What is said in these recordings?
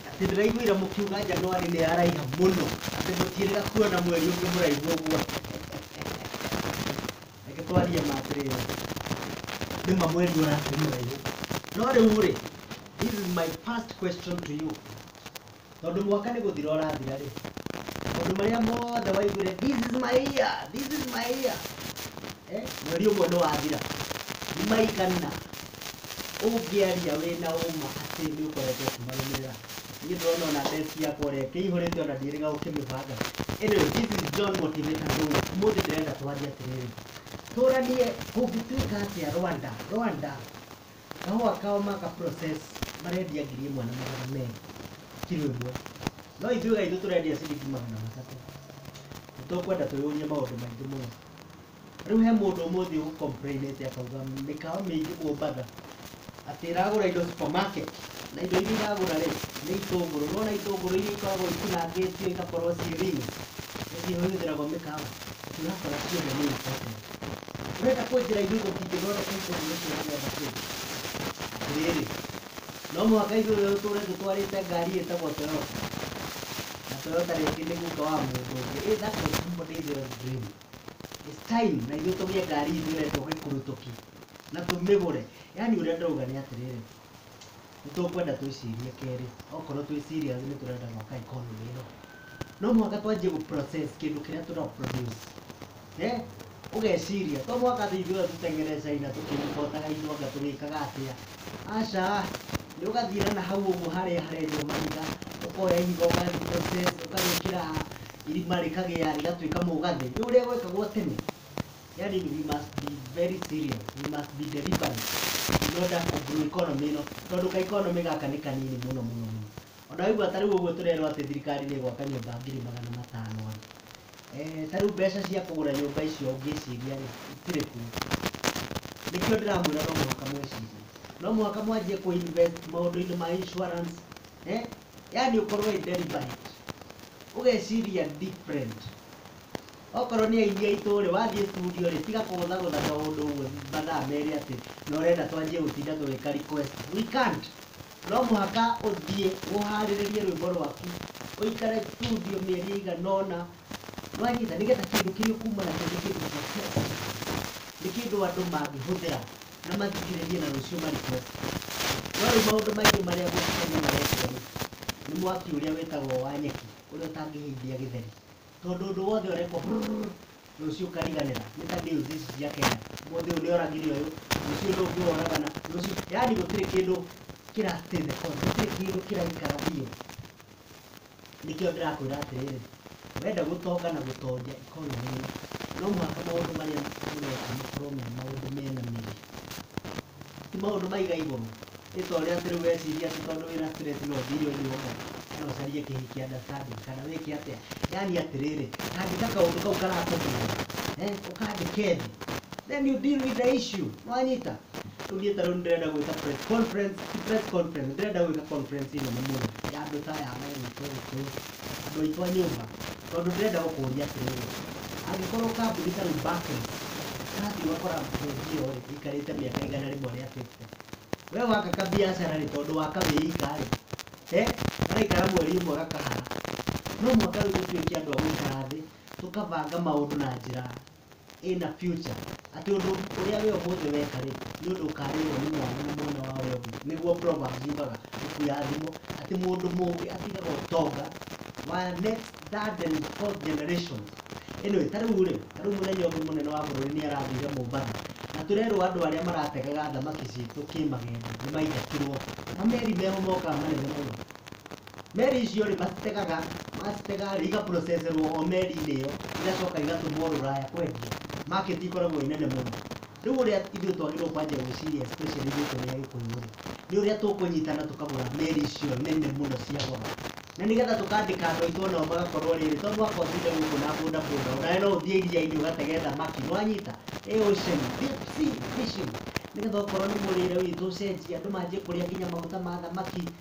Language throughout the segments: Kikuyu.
Atĩ ndĩraiguire mũkiuga Januari nĩ yaraiha mũno atĩ mũtiĩrĩga kuona mweri ũngĩ mũraihu ũguo. Reke twarie ma atĩrĩrĩ, nĩ ma mweri ũrakĩrĩ mũraihu. No rĩu-rĩ, this is my first question to you. tondũ mwaka nĩ gũthira ũrathira-rĩ, maũndũ marĩa mothe waiguire this is my year, this is my year, eh, mweri ũmwe nĩ wathira, nĩ maigana ũngĩaria wĩna ũma atĩ nĩ ũkoretwo ũkĩmarũmĩrĩra niĩ ndĩrona ona desk yakwa ũrĩa ĩkĩihũrĩte ona ndirĩga gũkĩmĩbanga anyway this is John Motivator Ndũũ ũmũthĩ ndĩrenda twarie atĩrĩrĩ tũranie kũngĩtuĩka atĩa Rwanda Rwanda Kahũa kao ma ka process marendia ngiri ĩmwe na magana merĩ kiro ĩmwe, no ithuĩ gaitũ tũrendia ciringi magana matatũ. Nĩ tũkwenda twĩyũrie maũndũ maingĩ mũno. Rĩu he mũndũ ũmũthĩ ũ complain ĩte akauga mĩkawa mĩingĩ Mombatha atĩ ĩragũra indo supermarket na indo iria iragũra rĩ nĩ itũngũrũ. Nĩ wona itũngũrũ iria ikoragwo itinangĩtio igakorwo ciĩ ring nĩcio ihũthĩragwo mĩkawa, ũrakora ciothe nĩ imported. Wenda kwenjĩra ithuĩ tũtingĩthondeka ikũmi nĩkĩ ũrĩgetha kĩu? Atĩrĩrĩ, no mũhaka ithuĩ rĩu tũũre tũtwarĩte ngari ĩtagwo Toyota. Na Toyota rĩngĩ nĩ guka wa mũndũ ũngĩ. Ĩ that was somebody's zealous dream. It's time na ithuĩ tũgĩe ngari ithuĩ ene tũgĩkurutũki na tũmĩgũre. Yaani ũrĩa ndĩrauga nĩ atĩrĩrĩ, nĩ tũkwenda twĩcirie kerĩ okorwo twĩ serious nĩ tũrenda gwaka economy ĩno no mũhaka twanjie gũ process kĩndũ kĩrĩa tũra produce eh ũgeciria to mũhaka atĩ ithuĩ othe tũteng'ere China tũkĩimbotaga indo anga tũgĩkaga atĩa aca nĩ ũgathiĩra na hau ũguo harĩa harenjwo mahiga ũkoya ihiga ũkarĩ process ũkarĩkĩra irima rĩkagĩa rĩgatuĩka mũgathĩ nĩ ũrĩa gwekagwo tene yani we must be very serious we must be deliberate in order to grow economy ĩno tondũ ka economy gaka nĩ kanini mũno mũno mũno ona waigua ta rĩu ũguo tũrerwo atĩ thirikari nĩ ĩgwaka nyũmba ngiri magana matano rĩ eh, ta rĩu mbeca cia kũgũra nyũmba icio ũngĩciria rĩ itirĩ kuo nĩkĩo ndĩramwĩra no mũhaka mwĩcirie no mũhaka mwanjie kũ invest maũndũ-inĩ ma insurance eh? yani ũkorwo wĩ deliberate ũgeciria different Okorwo nĩ aini aitũ rĩ, wathiĩ studio rĩ, tiga kũgũthagũtha kaũndũ ũguo mathaa merĩ atĩ na ũrenda twanjie gũtinda tũgĩka request. We can't. No mũhaka ũthiĩ ũharĩrĩrie rwĩmbo rwaku, ũikare studio mĩeri ĩigana ũna, nĩ wanyita, nĩ getha kĩndũ kĩrĩa ũkuma nakĩo nĩ kĩndũ protected, nĩ kĩndũ andũ mangĩhũthĩra na mathikĩrĩrie na rũciũ ma request. No rĩu maũndũ maingĩ marĩa Gũkũ Kenya marekwo rĩ, nĩ mwaki ũrĩa wĩtagwo wa nyeki ũrĩa ũtangĩhĩithia gĩtheri. Tondũ ũndũ wothe ũrekwo brrrr, rũciũ ũkariganĩra. Nĩ ta deals ici cia Kenya. Ũmũthĩ ũyũ nĩoragire ũyũ, rũciũ ũyũ ũngĩ woragana, rũciũ yaani gũtirĩ kĩndũ kĩra stay the course, gũtirĩ kĩndũ kĩraikara biũ. Nĩkĩo ndĩrakwĩra atĩrĩrĩ, wenda gũtonga na gũtongia economy ĩno, no mũhaka maũndũ marĩa ũreka makorwo me maũndũ mena mĩri. Ti maũndũ ma igai goro? Nĩ ta ũrĩa atĩ rĩu wecirie atĩ tondũ wĩ na stress no ũthiĩ irĩ ũndũ ũmwe kana ũcarie kĩhiki understanding kana wĩke atĩa. Yaani atĩrĩrĩ, andĩka kaũndũ kau karakũgia eh, ũkandĩke thĩ then you deal with the issue. Nĩ wanyita? Rĩu niĩ ta rĩu nĩ ndĩrenda gwĩka press conference, ti press conference, nĩ ndĩrenda gwĩka conference nene mũno ya andũ ta aya me gũkũ ũguo. andũ aitũ a nyũmba tondũ ndĩrenda gũkũria atĩrĩrĩ angĩkorwo kambuni ta rĩu Barclays ĩrathiĩ ũgakora bengi ĩyo rĩ ĩikarĩte mĩaka igana rĩmwe rĩa fifty we waka kabiacara rĩ tondũ waka wĩ ika rĩ eh garaikara mweri ũmwe gakahara no mũhaka rĩu tũtuĩke andũ a gũikara thĩ tũkabanga maũndũ na njĩra ĩna future, atĩ ũndũ ũrĩa wĩ ũmũthĩ weka rĩ, nĩ ũndũ ũkarĩrwo nĩ mwana na mwana wa ũrĩa ũngĩ. Nĩguo Proverbs yugaga ibuku ya thimo, atĩ mũndũ mũũgĩ atigaga ũtonga wa next third and fourth generations. Anyway, ta rĩu rĩ, ta rĩu mũthenya ũngĩ mũnene wa bũrũri nĩ arathire Mombatha, na tũrerwo andũ arĩa marategaga thamaki citũ kĩmagendo nĩ maingatĩrwo. Mameri meho mokaga manene mũno, Meri icio rĩ macitegaga macitega rĩ igaprocesserwo o meri-inĩ ĩyo igacoka igatũmwo rũraya kwendio market ikoragwo i nene mũno rĩu ũrĩa ithuĩ twagĩrĩirwo kwanjia gwĩciria especially ithuĩ tũrĩ agĩkũyũ rĩ nĩ ũrĩa tũkũnyitana tũkagũra meri icio nene mũno cia goro na nĩgetha tũkandĩka andũ aitũ onao magakorwo rĩrĩ to mũhaka ũtinde gũkũ na boda boda onawe no ũthiĩ iria-inĩ ũgatege thamaki nĩwanyita ĩ ocean deep sea fishing nĩgetha okorwo nĩ mũrĩre witũ ũcenjie andũ manjie kũrĩa nginya maguta ma thamaki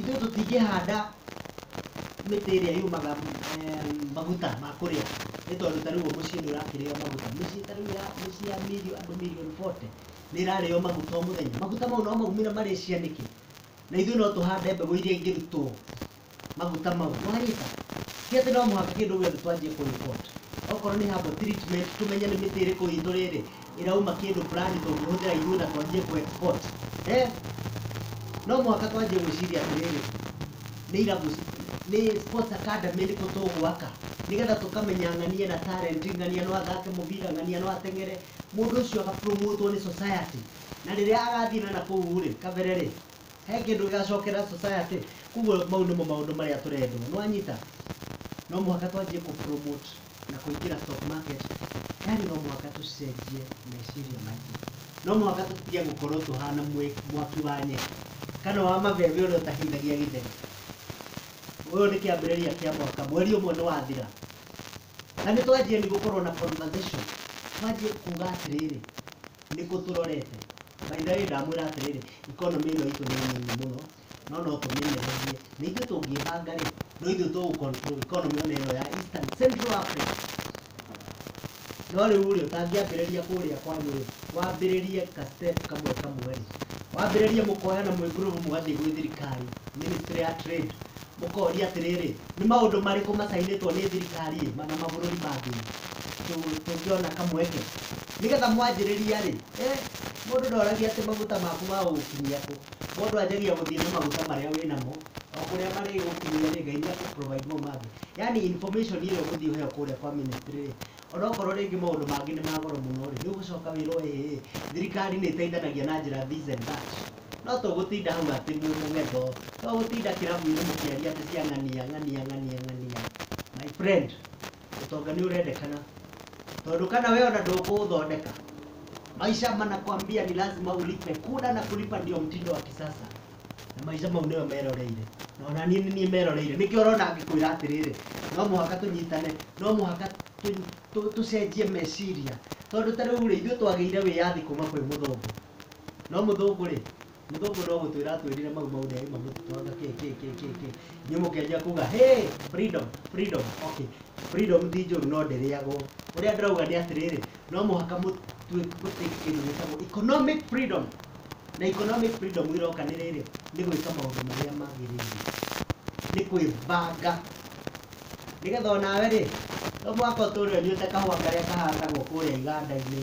Ithuĩ tũtingĩhanda mĩtĩ ĩrĩa yumaga maguta ma kũrĩa nĩ tondũ ta rĩu mũciĩ nĩ ũrakĩrĩo maguta mĩciĩ ta rĩu ya mĩciĩ ya milioni andũ milioni 40 nĩ ĩrarĩo maguta o mũthenya maguta mau no maumĩre Malaysia nĩkĩ na ithuĩ no tũhande mbegũ iria ingĩrutwo maguta mau wanyita ti atĩ no mũhaka kĩndũ gĩothe twanjie kũ import okorwo nĩ herbal treatment tũmenye nĩ mĩtĩ ĩrĩkũ itũ rĩrĩ ĩrauma kĩndũ fulani tũngĩhũthĩra ithuĩ na twanjie kũ export eh? no mũhaka twanjie gwĩciria atĩrĩrĩ nĩ irabu nĩ sports academy ĩrĩkũ tũgwaka nĩgetha tũkamenya ng'ania na talent ng'ania no athake mũbira ng'ania no ateng'ere mũndũ ũcio agapromotwo nĩ society na rĩrĩa agathiĩ na nakũu rĩ kabere rĩ he kĩndũ gĩgacokera society koguo mau nĩmo maũndũ marĩa tũrendwo nĩwanyita no mũhaka twanjie kũ promote na kũingĩra stock market, yani no mũhaka tũcenjie meciria maitũ. No mũhaka tũtige gũkorwo tũhana mwaki wa nyeki kana wa mabebe ũrĩa ũtahĩithagia gĩtheri. Ũyũ nĩ kĩambĩrĩria kĩa mwaka, mweri ũmwe nĩ wathira na nĩ twanjia nĩ gũkorwo na conversation, twanjie kuga atĩrĩrĩ, nĩ kũ tũrorete? By the way ndamwĩra atĩrĩrĩ, economy ĩno itũ nĩ nini mũno. no no tũmĩnyagie na ithuĩ tũngĩbanga rĩ no ithuĩ tũgũ control economy ona ĩno ya Eastern Central Africa no rĩu rĩ ũtangĩambĩrĩria kũrĩa kwanyu rĩ wambĩrĩrie ka step kamwe kamwe rĩ wambĩrĩrie mũkoyana mwĩ group mũgathiĩ gwĩ thirikari ministry ya trade mũkoria atĩrĩrĩ nĩ maũndũ marĩkũ macainĩtwo nĩ thirikari ĩ mana mabũrũri mangĩ Tũ- tũngĩona kamweke nĩgetha mwanjĩrĩria rĩ eh, mũndũ ndoragia atĩ maguta maku magũgũkinyia kũ Mũndũ anjagia gũthiĩ na maguta marĩa wĩ namo, o kũrĩa marĩ gũkinyĩria rĩ, Ngai nĩ akũ provide mo mangĩ. Yaani information ĩrĩa ũgũthiĩ ũheo kũrĩa kwa ministry rĩ, onokorwo rĩngĩ maũndũ mangĩ nĩ ma goro mũno rĩ, nĩ ũgũcoka wĩrwo ĩĩ, thirikari nĩ ĩteithanagia na njĩra this and that. No to gũtinda hau atĩ mwĩ mũgendo, to gũtinda kĩrabu-inĩ mũkĩaria atĩ cia ng'ania, ng'ania, ng'ania, ng'ania. My friend, Utonga ni urendekana. Tondu kana wewe ona ndũkũũthondeka. Maisha manakwambia ni lazima ulipe. Kula na kulipa ndio mtindo wa kisasa. Na maisha mau nĩyo meroreire. Na ona niĩ nĩ niĩ meroreire. Nĩkĩo ũrona ngĩkwĩra atĩrĩrĩ, no mũhaka tũnyitane, no mũhaka tũ- tũ- tũcenjie meciria. Tondu ta rĩu rĩ, ithuĩ twagĩire wĩyathi kuma kwĩ mũthũngũ. No mũthũngũ rĩ, Mũthũngũ no gũtwĩra atwĩrire mau mau nĩaĩ mamũtitwanga kĩ kĩ kĩ kĩ kĩ inyuĩ mũkĩanjia kuga hey freedom freedom okay freedom ti njũru no ndĩrĩagwo ũrĩa ndĩrauga nĩ atĩrĩrĩ no mũhaka mũtwĩ mũtĩ kĩndũ gĩtagwo economic freedom na economic freedom ĩroka nĩ rĩrĩ nĩ gwĩka maũndũ marĩa magĩrĩire nĩ kwĩbanga nĩgetha onawe rĩ no mũhaka ũtũre ũnyuĩte kahũa karĩa kahandagwo kũrĩa iganda-inĩ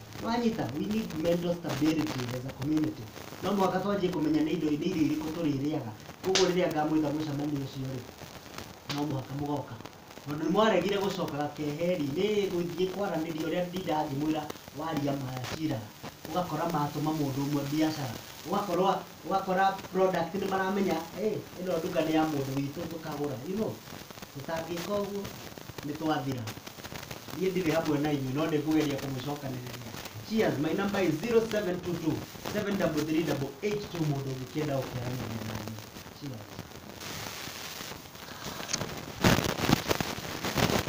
Nĩwanyita? We need mental stability as a community. No mũhaka twanjie kũmenya nĩ indo nĩ irio irĩkũ tũrĩrĩaga. Koguo rĩrĩa ngamwĩta mũcemanio ũcio-rĩ, no mũhaka mũgoka. Tondũ nĩmwaregire gũcokaga keheri, nĩ gũthiĩ kwaranĩria ũrĩa ndindaga ngĩmwĩra waria ma cira, ũgakora matũma mũndũ ũmwe mbiacara, ũgakora ũgakora product nĩ maramenya ĩĩ ĩno nduka nĩ ya mũndũ witũ tũkagũra you know. Tũtangĩka ũguo nĩ twathira. Niĩ ndirĩ hamwe na inyuĩ no nĩ ngũgeria kũmũcokanĩrĩria. Cheers, my number is 0722 733882 mũndũ ũngĩkĩenda gũkĩaranĩria na niĩ. Cheers.